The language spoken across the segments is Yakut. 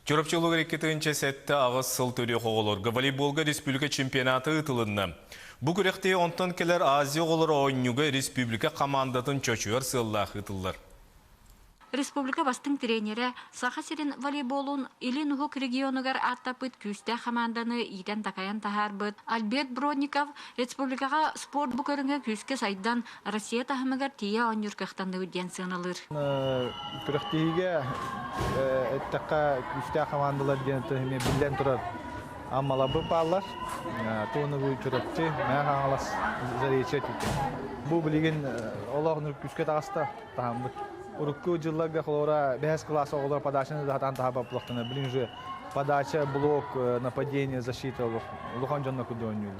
Чурапчы олуга икки тыһыынча сэттэ аҕыс сыл төрүөх оҕолорго волейболга республика чемпионаты ыытылынна. Бу күрэхтии онтон кэлэр Азия оҕолоро оонньууга республика хамаандатын чочуйар сыаллаах ыытыллар. Республика бастыҥ тренерэ, Саха сирин волейболун Илин Уһук регионугар ааттаппыт күүстээх хамаанданы иитэн-такайан таһаарбыт Альберт Бронников республикаҕа спорт бу көрүҥэ күүскэ сайдан, Россия таһымыгар тиийэ оонньуур кыахтанныбыт диэн сыаналыыр. Күрэхтиһиигэ эттэххэ күүстээх командалар диэн эмиэ биллэн турар аммалабы пааллар туонугу чурапчы мэ хаҥалас заречье тике бу билигин олох күүскэ таҕаста таһаммыт урукку жылларга холора бэһэс класс оҕолор подачаны датан таһа баплахтана билин же подача блок нападение защита улахан дьонно кудонюлу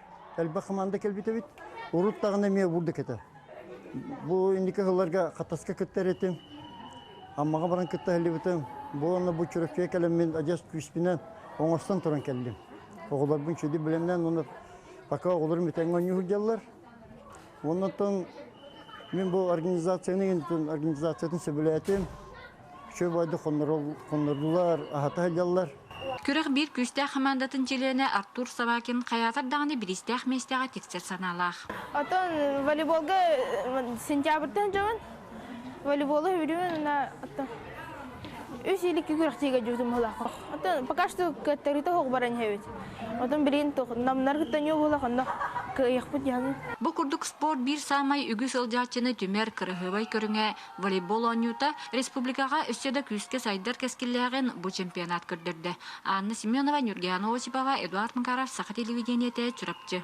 элбэх команда кэлбит эбит урут даҕаны эмиэ уурда кэтэ бу инники сылларга хатаска кыттар этим аммаҕа баран кытта сылдьыбытым бу уонна бу чүрөкчүгэ кэлэммин одесс күүспүнэн оҥостон туран кэллим оҕолорбун сүдү билэннэн уонна пока оҕолорум бүтэҥҥэ оонньуу сылдьаллар оннуттан мин бу организацияны организациятын сөбүлээтим Үчүгэй-баайдык хоннордулар, аһата сылдьаллар. Күрэх биир күүстээх хамаандатын чилиэнэ Артур Собакин хайаатар даҕаны бириистээх миэстэҕэ тиксэр санаалаах. Оттон волейболга сентябрьтан дьон волейболу үһүрүөн үс иликки күрэхтиигэ дьутумалаах. Оттон пока что кыаттарыыта хоҕ баран иһэбит. Оттон билигин намнар кыттанио буолах онно кыайыахпыт яһын. Бу курдук спорт биир саамай үгүс ылдьааччыны түмэр кыраһыабай көрүҥэ волейбол оонньуута республикаҕа өссө да күүскэ сайдар кэскиллээҕин бу чемпионат көрдөрдө. Анна Семенова, Нюргиана Осипова, Эдуард Макаров, Саха телевидениете, Чурапчы.